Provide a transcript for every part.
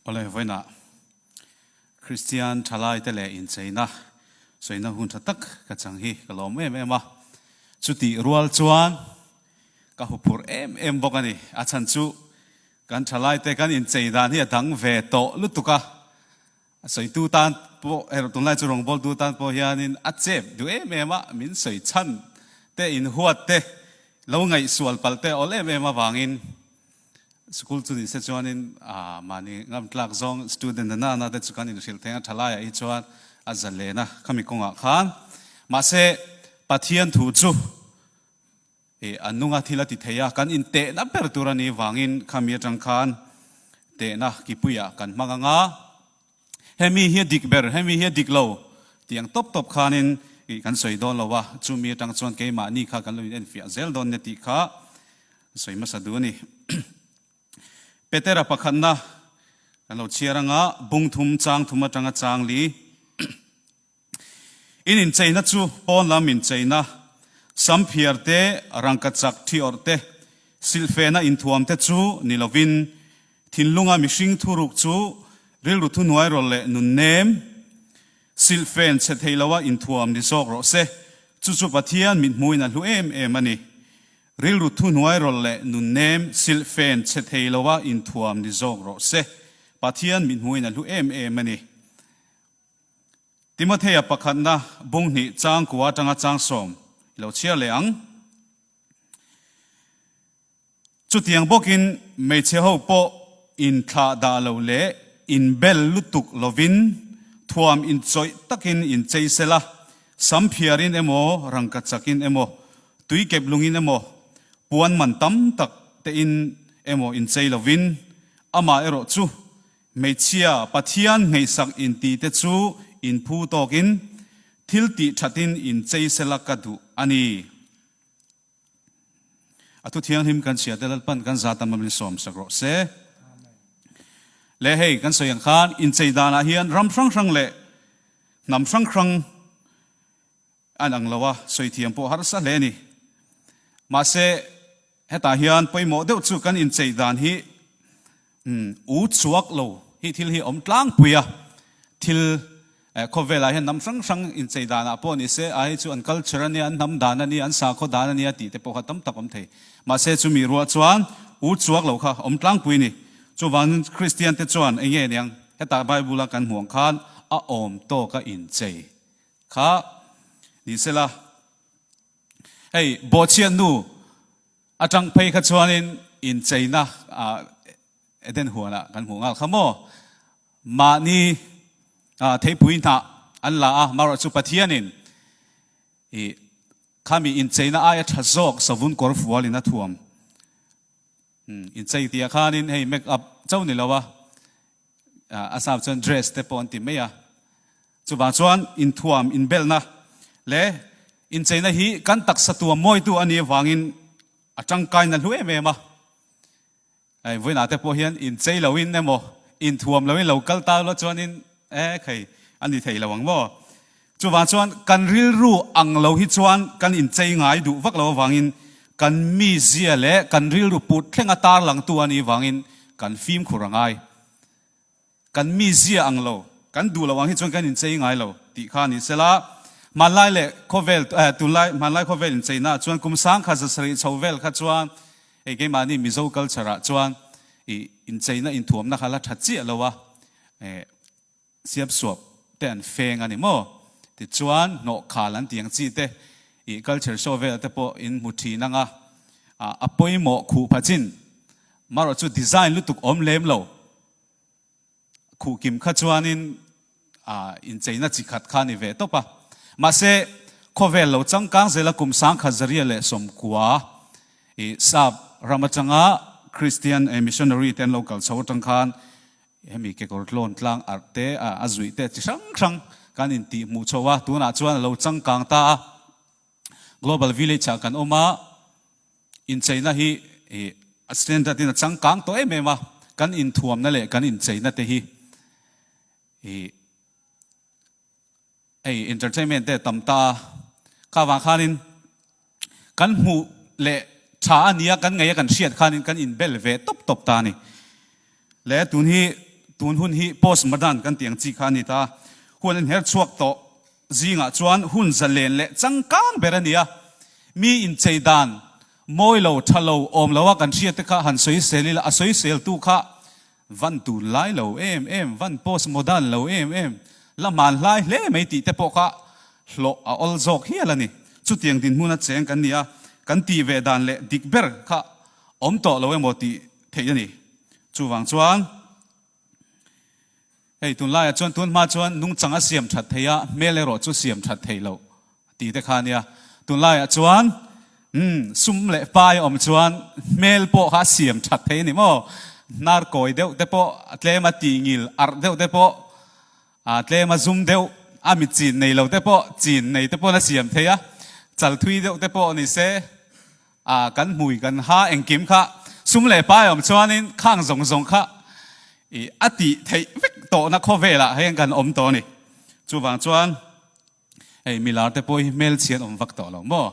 Awle vawiina Kristian thalaite leh incheina sawiina hun tha tak ka chang hi ka lawm em em a. Chutih rual chuan ka huphurh em em bawk a ni. A chhan chu kan thalaite kan inchei dan hi a dang ve tawh lutuk a. A sawitu tan pawh erawh tunlai chu rawngbawltu tan pawh hianin a chep duh em em a, min sawi chhan te in huat te lo ngaihsual palh te awlh em em avangin school chu ni se chuanin mahni ngam tlak zawng student na nana te chu kan in hrilh theng a tha laiah hi chuan a za len a khami kawngah khan mahse Pathian thu chu He an nunga thil a ti thei a, kan intehna ber tur a nih vangin khami atang khan tehna kipuiah kan hmang a nga. Hemi hi a dik ber, hemi hi a dik lo tiang tawp tawp khanin kan sawi dawn lo a, chumi atang chuan keimahni kha kan lo inenfiah zel dawn nia tih kha sawi hmasa duh a ni. Petera pakhatna kan lo chhiar a nga, bungthum changthum atanga changli In incheina chu pawn lam incheina, samphiar te, rangka chak thi awrh te, silhfena inthuam te chu ni lovin, thinlunga mihring thu ruk chu rilru thunuai rawlh leh nunnem, silhfen chhe thei loha inthuam ni zawk rawh se, chu chu Pathian mithmuin a hlu em em a ni. Rilru thunuai rawlh leh nunnem, silhfen chhe thei loha inthuam ni zawk rawh se, Pathian mithmuin a hlu em em a ni. Timothea pakhatna bung hnih chang kua atanga chang sawm i lo chhiar leh ang. Chutiang bawkin hmeichhe ho pawh inthlah dah lo leh inbel lutuk lovin thuam inchawih takin in chei sel a, sam phiarin emaw rangka chakin emaw tui kep lungin emaw puan man tam tak tein emaw in chei lovin amah erawh chu Hmeichhia Pathian hneihsak in ti te chu in phu tawk in thil tih that in in chei se la ka duh a ni. A thu thianghlim kan chhia te lalpan kan zat lam in sawm sak rawh se. Le hei kan sawi ang khan in chei dan ah hian ram hrang hrang leh hnam hrang hrang an ang lo a, sawi thiam pawh harsa hle a ni. Mahse, Hetah hian pawimawh deuh chu kan incheih dan hi u chhuak lo hi thil hi awm tlangpui a, thil khawvelah hian hnam hrang hrang inchei danah pawh ni se, ahi chu an culture a nia, an hnam dan a nia, an sakhaw dan a nia tih te pawh kha tam tak awm thei. Mahse chu mi ruah chuan u chhuak lo kha awm tlangpui ni. Chuvangin Kristian te chuan eng nge niang hetah Bible a kan hmuang khan a awm tawka inchei kha ni se la, Hei bawhchian nu atang phei kha chuanin in cheina Eden huanah kan hmuh ngal kha maw? Mahni theipui hna an la a, maruah chu Pathianin i khami in cheina aia tha zawk savun kawr fual in a thuam. In chei tia khanin hei make up chau ni lo a, a sap chuan dress te pawh an ti mai a. Chuvang chuan inthuam, inbelhna leh incheina hi kan taksa tuam mawitu a nih avangin a tangkaina hlu em em a. Hei vawiinah te pawh hian inchei loin emaw, inthuam loin lo kal ta rual chuanin e khei a ni thei lo ang maw? Chuvang chuan kan rilru ang lo hi chuan kan inchei ngai duh vak lo avangin kan mizia leh kan rilru put thlenga tarlangtu a nih avangin kan fimkhur a ngai. Kan mi zia ang lo, kan duh loh ang hi chuan kan inchei ngai lo tih kha a nih sela, hmanlai leh khawvel eh tunlai hmanlai khawvel incheinaah chuan kum sangkhat zasarih chho vel kha chuan hei keimahni Mizo culture ah chuan i incheina inthuamna kha la tha chiah lo a eh siam suap te an feng a ni maw tichuan hnawhkhal an tih ang chi te i culture show vel te pawh in hmu thin ang a a pawimawh khuh pha chin marawh chu design lutuk awm lem lo khuh kim kha chuanin incheina chi khat kha a ni ve tawp a. Mahse, khawvel lo changkang zela kum sangkhat zaria leh sawmkua i sap ram atanga Kristian missionary te an lo kal chho atang khan hemi kekawr tlawn tlang arh te, a zuih te chi hrang hrang kan intih hmuh chho a, tunah chuan a lo changkang ta a. Global Village ah kan awm a, incheina hi a standard in a changkang tawh em em a, kan inthuamna leh kan incheina te hi hei entertainment te tam ta a, kha vang khanin kan hmuh leh tha a nia kan ngeia kan hriat khanin kan inbel ve tawp tawp ta a ni. Leh tun hi tun hun hi post modern kan tih ang chi kha a ni ta a, huan in herh chhuak tawh Zingah chuan hun zalen leh changkang ber a ni a, mi inchei dan, mawi lo, tha lo, awm lo a kan hria te kha han sawi sel ila, a sawi sel tu kha van tun lai lo em em, van post modern lo em em, la hmaan hlai hle mai tih te pawh kha hlawh a awl zawk hial a ni. Chutiang dinhmun a cheng kan nia, kan tih ve dan leh dik ber kha awm tawh lo emaw tih theih a ni. Chuvang chuan. Hei tunlaiah chuan tun hma chuan nungchang a siam that thei a, hmel erawh chu siam that thei lo a ti tekha nia. Tunlaiah chuan um sum leh pai awm chuan hmel pawh kha a siam that thei a ni maw? Hnar kawi deuh te pawh a tlem a, tihngil arh deuh te pawh a tlem a, zum deuh a, mi chin nei lo te pawh chin nei te pawn a siam thei a, chal thui deuh te pawh ni se A kan hmui kan ha engkim kha sum leh pai awm chuanin khang zawng zawng kha ih a tih theih vek tawhna khawvelah hei an kan awm tawh a ni. Chuvang chuan hei milar te pawh hi hmelchhian awm vak tawh lo maw?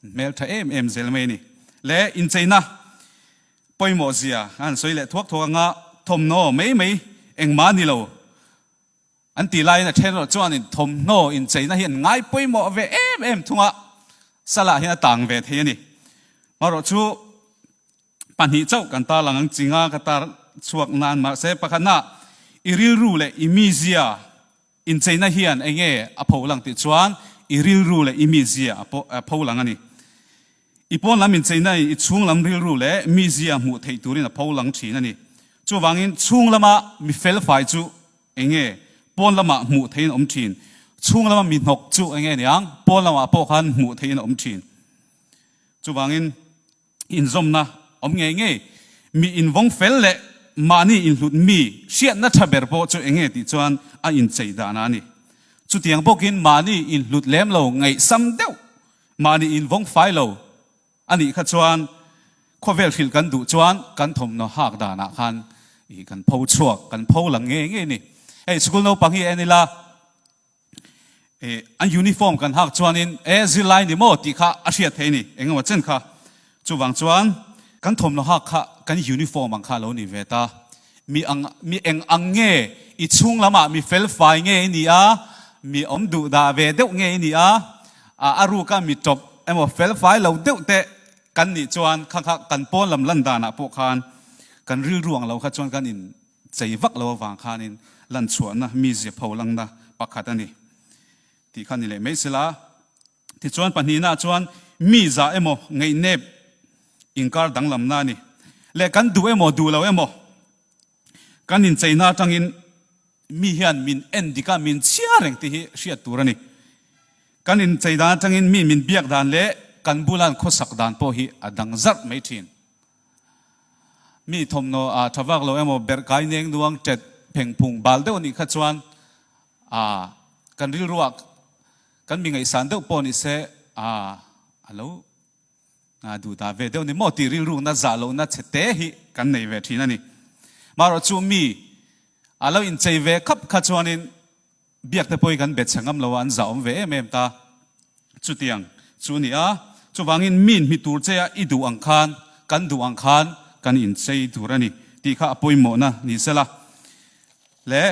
An hmel tha em em zel mai a ni. Leh incheina pawimawhzia a han sawi leh thuak thuak anga thawmhnaw mai mai engmah a ni lo. An ti laiin a then erawh chuanin thawmhnaw incheina hi an ngai pawimawh ve em em thung a, Salah hian a tang ve thei a ni. Marawh chu pahnih chauh kan tarlang ang ching a, ka tar chhuak nan mahse pakhatnah i rilru leh i mizia incheina hian enge a pho lang tih chuan i rilru leh i mizia a pho lang a ni. I pawn lam incheina i chhung lam rilru leh mizia hmuh theih turin a pho lang thin a ni. Chuvangin chhung lama mi felfai chu eng nge pawn lamah hmuh theihin a awm thin? Chhung lama mi hnawk chu eng nge niang pawn lamah pawh khan hmuh theihin a awm thin? Chuvangin inzawmna awm ngei ngei mi invawng fel leh mahni inhlut mi hriatna tha ber pawh chu eng nge tih chuan a inchei dahna a ni. Chutiang bawkin mahni inhlut lem lo ngaihsam deuh Mahni in vawng fai lo a nih kha chuan khawvel hrilh kan duh chuan kan thawmhnaw hak danah khan ih kan pho chhuak, kan pho lang ngei ngei ni. Hei school naupang hi en ila eh an uniform kan hak chuanin eh zirlai ni maw tih kha a hriat theih a ni, engemaw chen kha. Chuvang chuan kan thawmhnaw hak kha kan uniform ang kha a lo ni ve ta. Mi ang mi eng ang nge i chhung lamah mi fel fai nge i ni a, mi awm duh dah ve deuh nge i ni a, a a ruka mi tawp emaw fel fai lo deuh te kan nih chuan kha kha kan pawn lam lan dan ah pawh khan kan rilru ang lo kha chuan kan in chei vak lo avang khan in lanchhuahna mi ziapho langna pakhat a ni tih kha ni leh mai se la. Tichuan, pahnihnah chuan mi zah emaw ngeihnep inkar danglamna ni leh kan duh emaw duh lo emaw kan incheina atangin mi hian min en dik a, min chhiar reng tih hi hriat tur a ni. Kan inchei dan atangin miin min biak dan leh kan bula'n khawsak dan pawh hi a dang zarh mai thin. Mi thawmhnaw a tha vak lo emaw berh kai neng nuang tet pheng phung bal deuh a nih kha chuan a kan rilruah Kan mi ngaihsan deuh pawh ni se. A a lo nga duh ta ve deuh ni maw tih rilrukna zah lohna chhe te hi kan nei ve thin a ni. Maherawhchu mi a lo inchei ve khap kha chuanin biakte pawhi kan betchhe ngam lo a, an zahawm ve em em ta. Chutiang chu a ni a. Chuvangin miin hmi tur che a i duh ang khan, kan duh ang khan kan inchei tur a ni tih kha a pawimawhna ni se la. Leh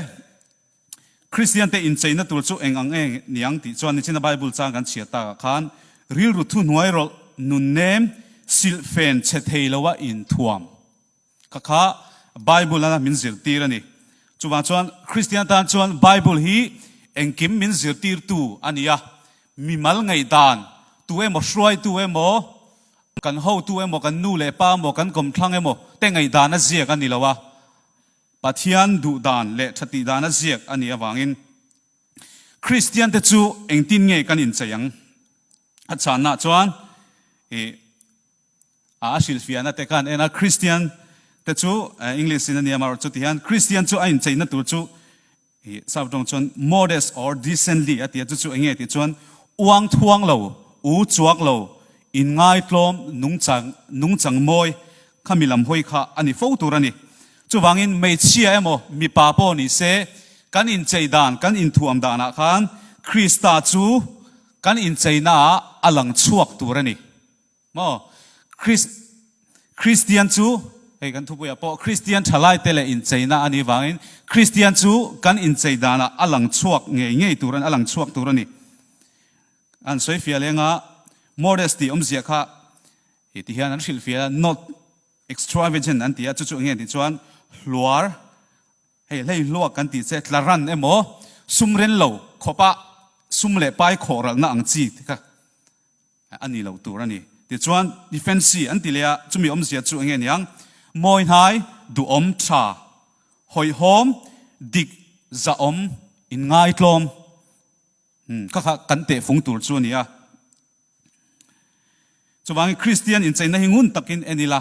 Kristiante incheina tur chu eng ang nge niang tih chuan nichina Bible chang kan chhiat takah khan, Rilru thuhnuai rawlh nunnem silhfen chhe thei loha inthuam kha kha Bible a min zirtir a ni. Chuvang chuan Kristian tan chuan Bible hi engkim min zirtirtu a ni a, mi mal ngaihdan tu emaw, hruaitu emaw, kan hotu emaw, kan nu leh pa emaw, kan kawmthlang emaw te ngaihdan a ziak a ni lo a, Pathian duhdan leh tha tihdana ziak a nih avangin Kristiante chu engtin nge kan inchei ang? A chanah chuan ih a hrilhfiahna te khan ena Kristiante chu, English-in a nia, Margaret chuti hian, Kristian chu a incheina tur chu Ih chau tawng chuan modest or decently a ti a, chu chu eng nge tih chuan uang thuang lo, u chuak lo, in ngai tlawm, nung chang, nung chang mawi kha mi lam hawi kha a ni fo tur a ni. Chuvangin hmeichhia emaw mipa pawh ni se kan inchei dan, kan inthuam danah khan Krista chu kan incheinaah a lang chhuak tur a ni. Maw? Kris, Kristian chu, hei kan thupuiah pawh Kristian thalaite leh incheina a nih vangin Kristian chu kan inchei danah a lang chhuak ngei ngei tur a ni, a lang chhuak tur a ni. An sawi fiah leng a, modest tih awmzia kha hei ti hian an hrilh fiah a, not extravagant an ti a, chu chu enge an tih chuan hluar, hei hleihluak kan tih che, tla ran emaw, sumrel lo khawpah sum leh pai khawhralhna ang chi te kha. a nih loh tur a ni. Tichuan, Defensi an ti leh a, chumi awmzia chu enge niang? Mawihnai, duhawm, tha, hawihhawm, dik, zahawm, inngaithlawm, hmm, kha kha kan tehfung tur chu a ni a. Chuvangin Kristian incheina hi ngun takin en ila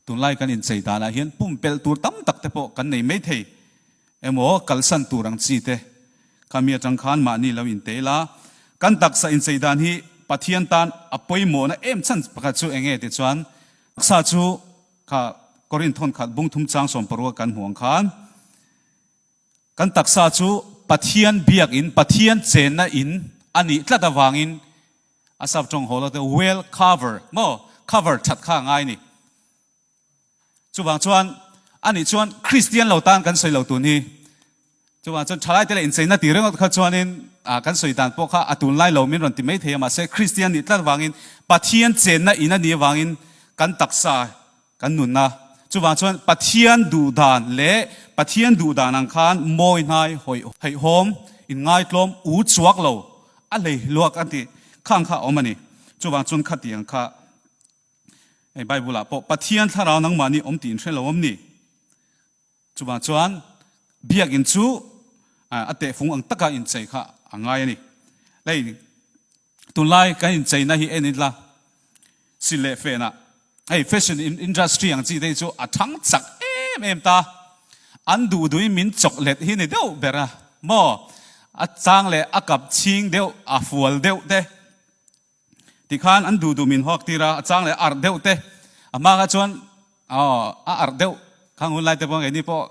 Tunlai kan inchei danah hian pumpelh tur tam tak te pawh kan nei maithei emaw kalsan tur ang chi te khami atang khan mahni lo intei la. Kan taksa inchei dan hi Pathian tan a pawimawhna em chhan pakhat chu eng nge tichuan taksa chu kha Korin thawnkhat bung thum chang sawm paruk a kan hmuh ang khan kan taksa chu Pathian biak in, Pathian chenna in a nih tlat avangin A sap tawng haw lo teh well cover maw cover that kha a ngai a ni. Chuvang chuan anih chuan Kristian lo tan kan sawi lo tun hi chuvang chuan thalai te leh incheina ti ringawt kha chuanin kan sawi dan pawh kha a tun lai lo min rawn ti mai thei a mahse Kristian nih tlat vangin Pathian chenna in a nih avangin kan taksa Kan nun a, chuvang chuan Pathian duh dan leh Pathian duh dan ang khan mawi hnai hawi haihawm, inngaithlawm, u chuak lo a hlei luak a tih kha ang kha a awm a ni. Chuvang chuan khati ang kha hei Bible ah pawh Pathian thlarau nangmah ni awm tih in hre lo awm ni? Chuvang chuan biakin chu a tehfung ang taka inchei kha a ngai a ni. Hei Tunlai kan incheina hi en ila, si leh fena hei fashion industry ang chi te hi chu a thang chak em em ta, an duhdui min chawk let hi ni deuh ber a maw, a chang leh a kap chhing deuh a fual deuh te tikhan an duhduh min huak tir a, a chang leh a arh deuh te, a hma kha chuan aw a arh deuh kha hunlai te pawh ang e ni pawh.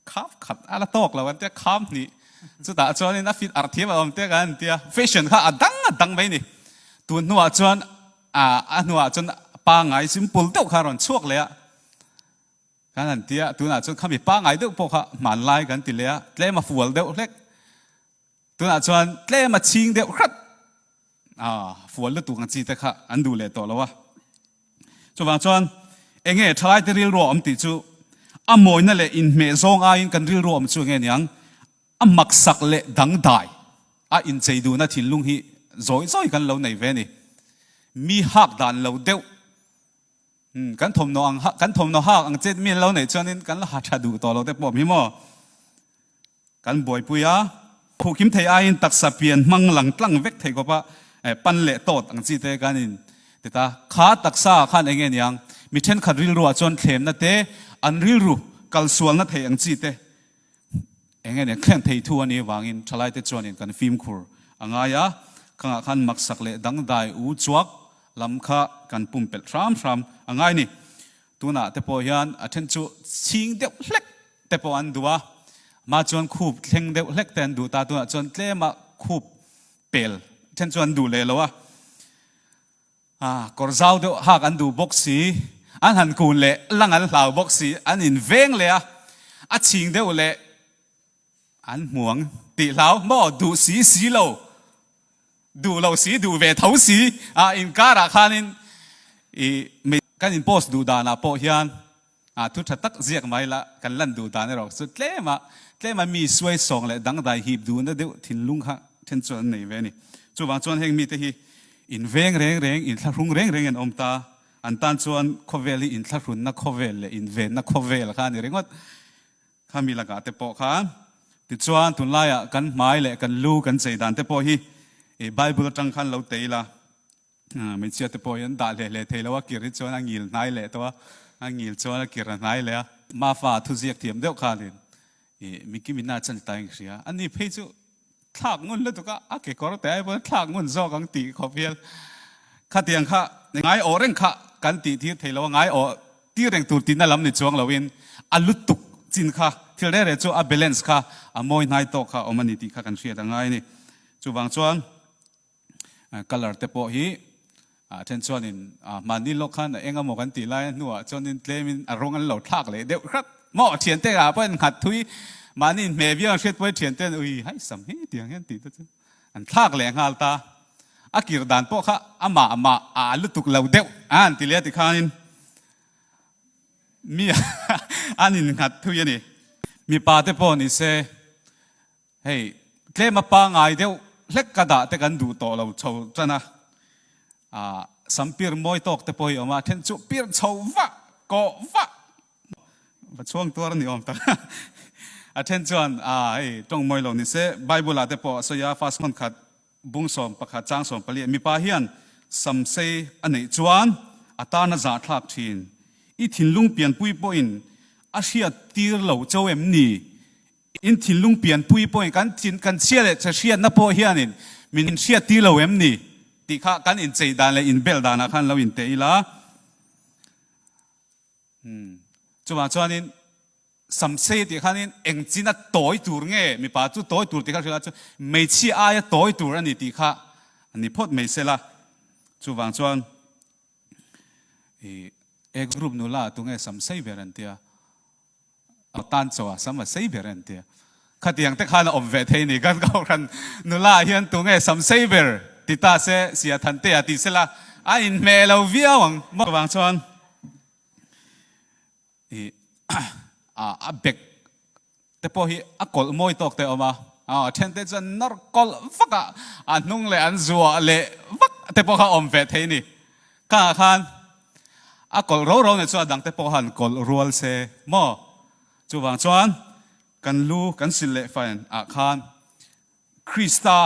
Kham khat a la tawk lo kan tia, kham hnih chutah chuanin a fit arh thiam a awm tia kan tia. Fashion kha a dang a dang mai ni. Tun hnuah chuan a hnuah chuan pangai simple deuh kha a rawn chhuak leh a kan han tia. Tunah chuan khami pangai deuh pawh kha hmanlai kan ti leh a, tlem a fual deuh hlek. Tunah chuan tlem a chhing deuh hrat a fual lutuk ang chi te kha an duh leh tawh lo a. Chuvang chuan, Enge thalaite rilru a awm tih chu a mawina leh inhmeh zawng aiin kan rilru awm chu enge niang a maksak leh dangdai a inchei duhna thinlung hi zawi zawi kan lo nei ve a ni. Mi hak dan lo deuh kan thawmhnaw ang, kan thawmhnaw hak ang che mi an lo nei chuanin kan la ha tha duh tawh lo te pawh hmi maw? Kan buaipui a, khuh kim thei aiin taksa pian hmang lang tlang vek thei kawpa pan leh tawt ang chi te kan in ti ta. Kha taksa ah khan eng nge niang mi thenkhat rilru ah chuan thlemna te, an rilru kal sualna thei ang chi te eng nge niang thleng thei thu a nih avangin thalai te chuan in kan fimkhur a ngai a, kang ah khan maksak leh dangdai u chuak lam kha kan pumpelh hram hram a ngai ni. Tunah te pawh hian a then chu chhing deuh hlek te pawh an duh a, mah chuan khup thleng deuh hlek te an duh ta, tunah chuan tlema khup pel then chu an duh leh lo a, ah kawr zau deuh hak an duh bawk si, an han kun leh lang an hlau bawk si, an inveng leh a, a chhing deuh leh An hmuang tih hlau maw? Duh si si lo, duh lo si, duh ve tho si. A inkarah khanin i mi kan in post duh danah pawh hian a thu tha tak ziak mai la, kan lan duh dan erawh chu tlema tlema mi suai sawng leh dangdai hip duh na deuh thinlung kha then chuan an nei ve a ni. Chuvang chuan heng mite hi in veng reng reng, in thlahrung reng rengin an awm ta. An tan chuan khawvel hi in thlahrunna khawvel leh in venna khawvel kha a ni ringawt. Khami lakah te pawh kha. Tichuan, tunlaiah kan hmai leh kan lu kan chei dan te pawh hi Bible atang khan lo tei ila, hmeichhia te pawh hi an dah hle hle thei lo a, kir hi chuan a ngil hnai leh tawh a, a ngil chuan a kir a hnai leh a. Mafa thu ziak thiam deuh khanin mi kimin a chan ta eng hria? Ani phei chu Thlak ngun lutuk a a kekawr te ai pawh hian thlak ngun zawk ang tih khawp hial. Khatiang kha ngai awh reng kha kan tih tir thei lo a, ngai awh tir reng tur tihna lam ni chuang loin a lutuk chin kha thil reh reh chu a balance kha a mawi hnai tawk kha awm a ni tih kha kan hriat a ngai a ni. Chuvang chuan Colour te pawh hi a then chuanin mahni lawk khan a eng a maw kan tih lai a hnuah chuanin tlemin a rawng an lo thlak leh deuh hrat maw a thian te ah pawh an nghat thui mahni hme viau an hriat pawh a thian te an ui hai sam hi tiang hian tih te chu an thlak leh nghal ta a kir dan pawh kha amah amah a lutuk lo deuh a an ti leh ti khanin mi an in nghat thui a ni mipa te pawh ni se Hei tlem a pangai deuh hlek ka dah te kan duh tawh lo chho tan a, ah sampir mawi tawk te pawh hi a awm a, a then chu pir chho vah, kawh vah, va chhuang tuar ni awm tak, a then chuan ah hei tawng mawi lo nise, Bible-ah te pawh a sawi a, fast hawn khat, bung sawm pakhat, chang sawm pali a, mipa hian sam sei a neih chuan a tarna zah thlak thin, i thinlung pianpui pawhin a hriat tir lo cho em ni? In thinlung pianpui pawhin kan thin kan chhia leh chhe hriatna pawh hianin min hriat tir lo em ni? tih kha kan incheih dan leh inbel danah khan lo inti ila. Umm. Chuvang chuanin samsei tih khanin engchina tawi tur nge mipa chu tawi tur tih kha hrilh a chuan hmeichhia aia tawi tur a ni tih kha a ni phawt mai sela. Chuvang chuan ih A group nula tunge samsei ber an tia? Aw tan chaw a sam a sei ber en tia khatiang te khan a awm ve thei ni kan kohhran nula ah hian tunge sam sei ber ti ta se sia than te a ti sela a in hmeh lo viau ang maw vang chuan i a bag te pawh hi a kawlh mawi tawk te awm a a then te chuan nawr kawlh vak a a hnung leh an zuah leh vak te pawh kha awm ve thei ni Kangah khan a kawlh ro ro nen chuan a dangte pawh han kawlh rual se maw? Chuvang chuan kan lu kan silh leh fan ah khan Krista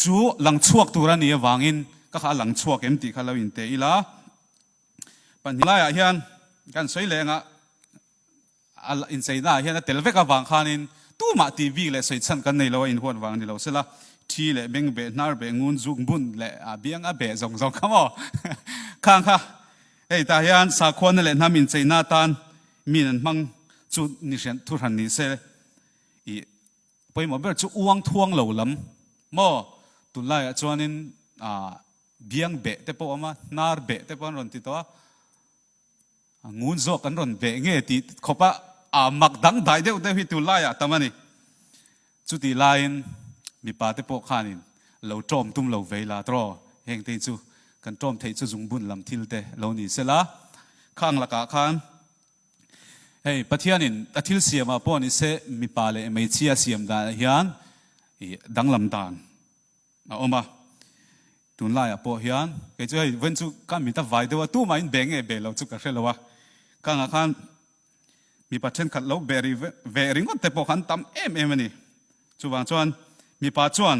chu lang chhuak tur a ni avangin ka kha a lang chhuak em tih kha lo in te ila. Pahnih laiah hian kan sawi leh angah, A incheinaah hian a tel vek avang khanin tumah ti bik leh sawi chhan kan nei lo a inhuat vang ni lo se la, thi leh beng beh, hnar beh, ngun zuk bun leh biang a beh zawng zawng kha maw? Khang kha, hei tah hian sakhuana leh hnam incheina atan min an hmang chu ni hriat thu hran ni se, i pawimawh ber chu uang thuang lo lam maw? Tunlaiah chuanin biang beh te pawh awm a, hnar beh te pawh an rawn ti tawh a, A ngun zawk kan rawn beh nge ti khawpa a mak dang dai deuh deuh hi tu laiah tam a ni. Chuti laiin mipa te pawh khanin lo tawm tum lo ve la tawh hengtein chu kan tawm theih chu zungbun lam thil te lo ni se la, khang lakah khan hei Pathianin a thil siamah pawh ni se mipa leh hmeichhia siam danah hian danglam dan a awm a. Tunlaiah pawh hian kei chu hei vawiin chu ka mi ta vai deuh a, tumah in be nge be lo chu ka hre lo a, kangah khan mipa thenkhat lo be ri ve ringawt te pawh kha an tam em em a ni. Chuvang chuan mipa chuan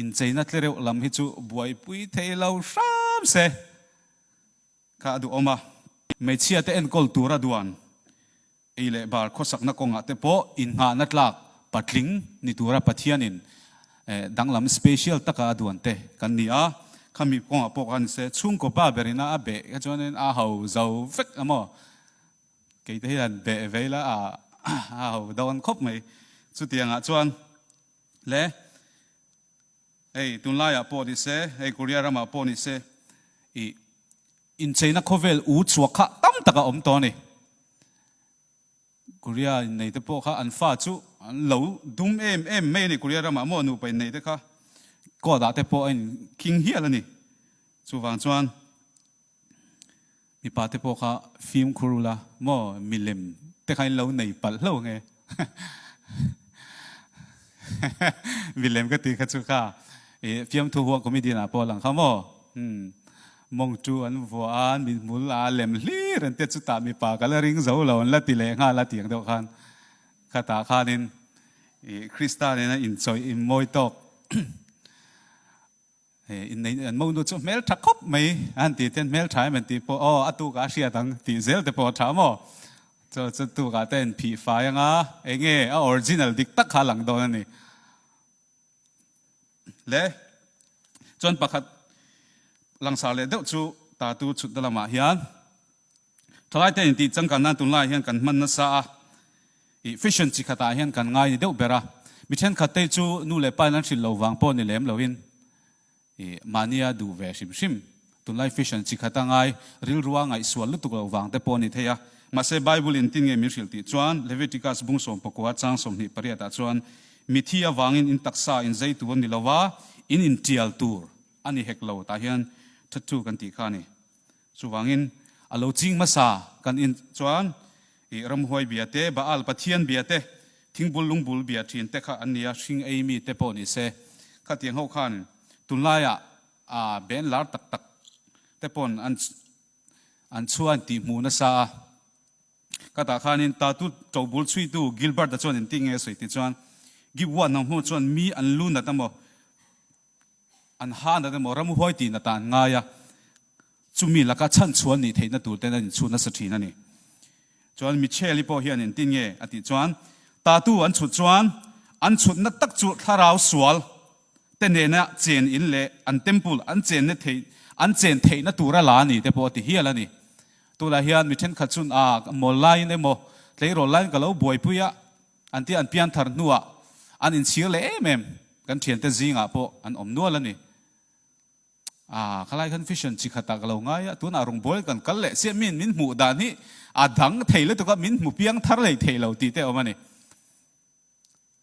incheina tle reuh lam hi chu buaipui thei lo hram se kha a duhawm a. Hmeichhia te enkawl tura duan Ei leh bar khawsakna kawngah te pawh innghahna tlak patling ni tura Pathianin danglam special taka a duan te kan ni a, khami kawngah pawh ka ni se. Chhungkaw pa berin a beh kha chuanin a ho zo vek a maw? Keite hi an beh ve ila a a ho dawn khawp mai. Chutiangah chuan le ei tunlaiah pawh ni se, ei Korea ramah pawh ni se i Incheina khawvel u chhuak kha tam taka awm tawh a ni. Korea inneite pawh kha an fa chu an lo dum em em mai a ni, Korea ramah amaw nupa inneite kha court ah te pawh a inkhing hial a ni. Chuvang chuan mipa te pawh kha fimkhur ula maw milem te kha in lo nei palh hlauh ang e. Milem ka tih kha chu kha i fiamthu huah comedian ah pawh lang kha maw hmm mawng tu an vuah a an min hmul a lem hlir an tia chutah mipa ka la ring zo lo an la ti leh nghal a tiang deuh khan khatah khanin i Krista nena inchawih inmawi tawk He innei an mo nu chu hmel tha khawp mai a han tih te hmel tha em an tih pawh aw a tukah a hriat ang tih zel te pawh a tha a maw. Chaw chu tukah te an phih fai ang a, enge a original dik tak kha a lang dawn a ni. Le chuan pakhat langsar leh deuh chu tatu chhutna lamah hian Thalaite intih changkan nan tunlaiah hian kan hman nasa a, i fashion chi khatah hian kan ngai ni deuh ber a, mi thenkhattei chu nu leh pain an hrilh lo vang pawh ni lem loin i mahni a duh ve hrim hrim. Tunlai fashion chi khata ngai rilrua ngaihsual lutuk lo vang te pawh ni thei a. Mahse, Bible in tin nge min hrilh tih chuan, Leviticus bung sawmpakua kua chang sawmhnih pariatah chuan, Mithi avangin in taksa in zei tur ni lova in intial tur a ni hek lo tah hian thattu kan tih kha a ni. Chuvangin a lo ching hmasa kan in chuan ih ramhuai bia te, Baal pathian bia te, thingbul lungbul bia ṭhin te kha an ni a, hring ei mi te pawh ni se. Khatiang ho khan tunlaiah ben lar tak tak te pawn an an chuan tih hmuh nasa a. Khata khanin tatu ṭo bul chhuitu Gilbert-a chuan eng ti nge sawi tih chuan, Gibua hnam ho chuan mi an lu nat a maw? an han dan emaw ramuhuai tih na tah an ngai a, chumi laka chhanchhuan nih theihna tur ten an inchhut nasa thin a ni. Chuan Michelle-i pawh hian in tin nge a tih chuan, Tatu an chhut chuan an chhutna tak chu thlarau sual te nena chen in leh an temple an chen na theih an chen theihna tura la a ni te pawh a ti hial a ni. Tunah hian mi thenkhat chun, Aaa, mawllaiin emaw, tleirawl laiin ka lo buaipui a, An tih an pian thar hnuah an inchhir leh em em, kan thiante zingah pawh an awm nual a ni. Aah, khalai khan vision chi khat ah ka lo ngai a, tunah rung bawl kan kal leh chiah min min hmuh dan hi a dang thei lutuk a, min hmu piang thar leh thei lo tih te awm a ni.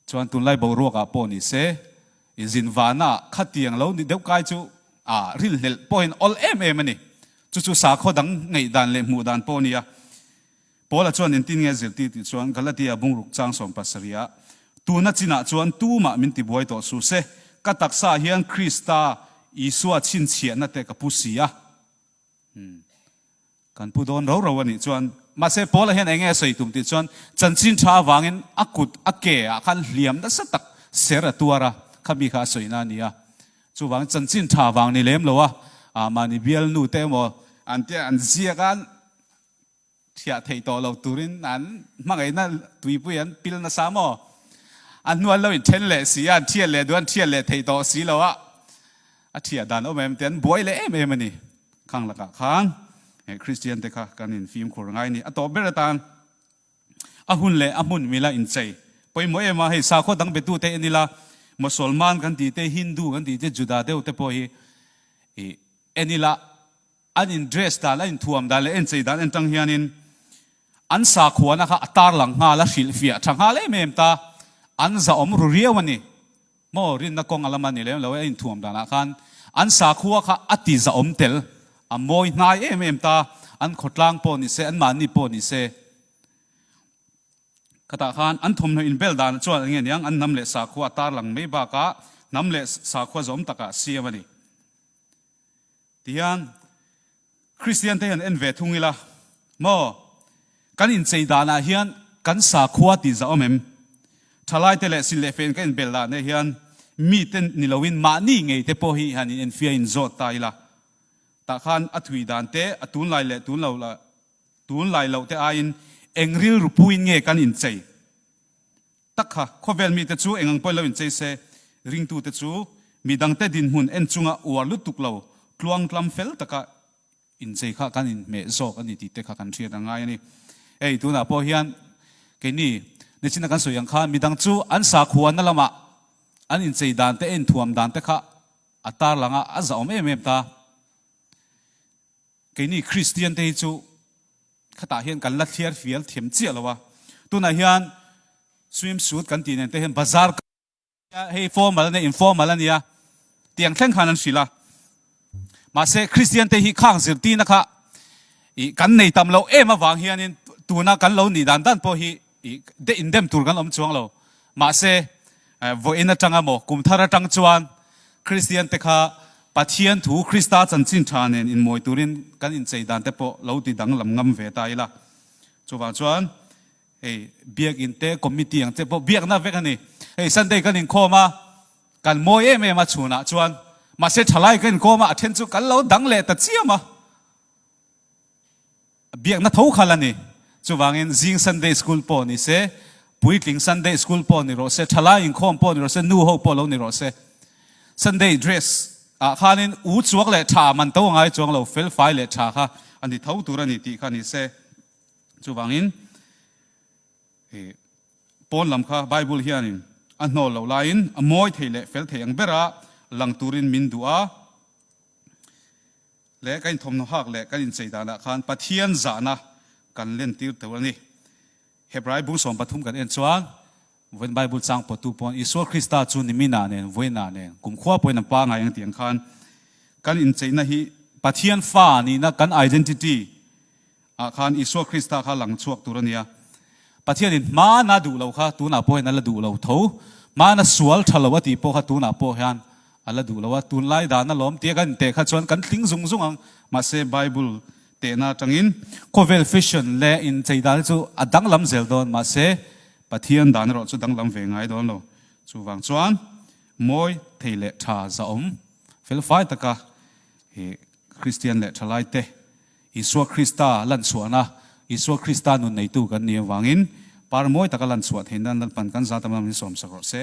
Chuan tunlai boruak ah pawh ni se, inzin van ah khatiang lo ni deuh kai chu aah ril hlelh pawhin awlh em em a ni. Chu chu sakhaw dang ngeih dan leh hmuh dan pawh a ni a. Paula chuan engtin nge zir tih tih chuan Galatia bungruk changsawn pasarih a, tuna chinah chuan tumah min ti buai tawh su se, ka taksa ah hian Krista Isua chhinchhiahna te ka pu si a, umm kan pu dawn roro a nih chuan. Mahse Paula hian enge a sawi tum tih chuan chanchin tha avangin a kut a ke ah khan hliam nasa tak ser a tuar a, khami kha a sawina a nia, chuvangin chanchin tha avang ni lem lo a, ah mahni bialnu te emaw. An tia an ziak a. Hriah theih tawh lo turin an hmangaihna tuipui an pil nasa maw? A hnual lo inthen leh si a, an hriat leh duh a, an hriat leh theih tawh si lo a, a hriat dan awm em tian an buai leh em em a ni. Khang lakah khan he Kristian te kha kan infimkhur ngai a ni. A tawh ber atan a hun leh a hmun mila inchei pawimawh em a, hei sakhaw dang biatu te en ila Mosolman kan tite, Hindu kan tite, Juda deuh te pawh hi en ila An in dress dan, an in thuam dan leh a in chei dan en tang hianin an sakhuana kha a tarlang nghal a hrilh fiah tha nghal em em ta, an zahawm ru riau a ni. Maw rinna kawnga lama ni lem lo e, a in thuam danah khan an sakhua kha a ti zahawm tel, a mawi hnai em em ta, an khawtlang pawh ni se, an mahni pawh ni se. Khatah khan an thawmhnaw in bel danah chuan enge niang an hnam leh sakhua a tarlang mai bakah hnam leh sakhua zawm takah siam a ni. Ti hian Kristian te hian en ve thung ila maw? Kan inchei danah hian kan sakhua tih zah awm em? Thalai te leh sin leh fen ka inbel dan leh hian mite ni loin mahni ngei te pawh hi hian in enfiah in zawt ta ila tah khan a thui dan te a tun lai leh tun lo lah tun lai loh te aiin eng rilru puin nge kan inchei Tak kha, khawvel mite chu eng ang pawhin lo inchei se, ringtute chu mi dangte dinhmun en chunga uar lutuk lo, tluang tlam fel taka inchei kha kan inhmeh zawk a ni tihte kha kan hriat a ngai a ni. Hei, tunah pawh hian keini nichin a kan sawi ang khan, midang chu an sakhuana lama an inchei dan te, a inthuam dan te kha a tarlang a, a zahawm em em ta. Keini Kristiante hi chu Khatah hian kan la thliar fial thiam chiah lo a, tunah hian swimsuit kan tih nen te hian bazar ka nia, hei formal a nia, informal a nia tiang thleng khan an hrilh a, mahse Kristian te hi khang zirtirna kha i kan nei tam loh em avang hianin tuna kan lo nih dan dan pawh hi Tih deh indem tur kan awm chuang lo. Mahse, vawiin atang emaw, kum thar atang chuan Kristian te kha Pathian thu Krista chanchin tha nen inmawi turin kan inchei dan te pawh lo ti danglam ngam ve ta ila. Chuvang chuan hei biakin te committee ang che pawh biakna vek a ni. Hei Sunday kan inkhawm a, kan mawi em em a chhunah chuan mahse thalai kan inkawm a, a then chu kan lo dang leh ta chiam a. biakna tho kha la ni. Chuvangin zing Sunday School pawh ni se, puitling Sunday School pawh ni rawh se, thalai inkhawm pawh ni rawh se, nu ho pawh lo ni rawh se, Sunday dress ah khanin u chuak leh tha man to a ngai chuang lo, felfai leh tha kha a ni tho tur a ni tih kha ni se. Chuvangin i pawn lam kha Bible hianin a hnawl lo laiin a mawi thei leh fel thei ang berah lang turin min duh a. leh kan inthawmhnaw hak leh kan inchei danah khan Pathian zahna kan lentir tel a ni. Hebrai bung sawm pathum kan en chuan vawiin Bible chang pawhtu pawn Isua Krista chu niminah nen vawiinah nen kumkhua pawhin an pangngai ang tiang khan kan incheina hi Pathian fa nihna kan identity Ah khan Isua Krista kha lang chhuak tur a nia. Pathianin hmana duh lo kha tunah pawh hian a la duh lo tho. Hmana sual tha lo a tih pawh kha tunah pawh hian a la duh lo a. Tunlai dan a lawm tia kan inteh kha chuan kan tling zung zung ang. Mahse, Bible tehna atangin khawvel fashion leh incheidal chu a danglam zel dawn. Mahse, Pathian dan erawh chu danglam ve ngai dawn lo. Chuvang chuan mawi thei leh tha zahawm felfai taka Kristian leh thalaite, Isua Krista lanchhuahna, Isua Krista nun neitu kan ni avangin par mawi taka lanchhuah theihna an lalhpan kan zat lam lam in sawmsak rawh se.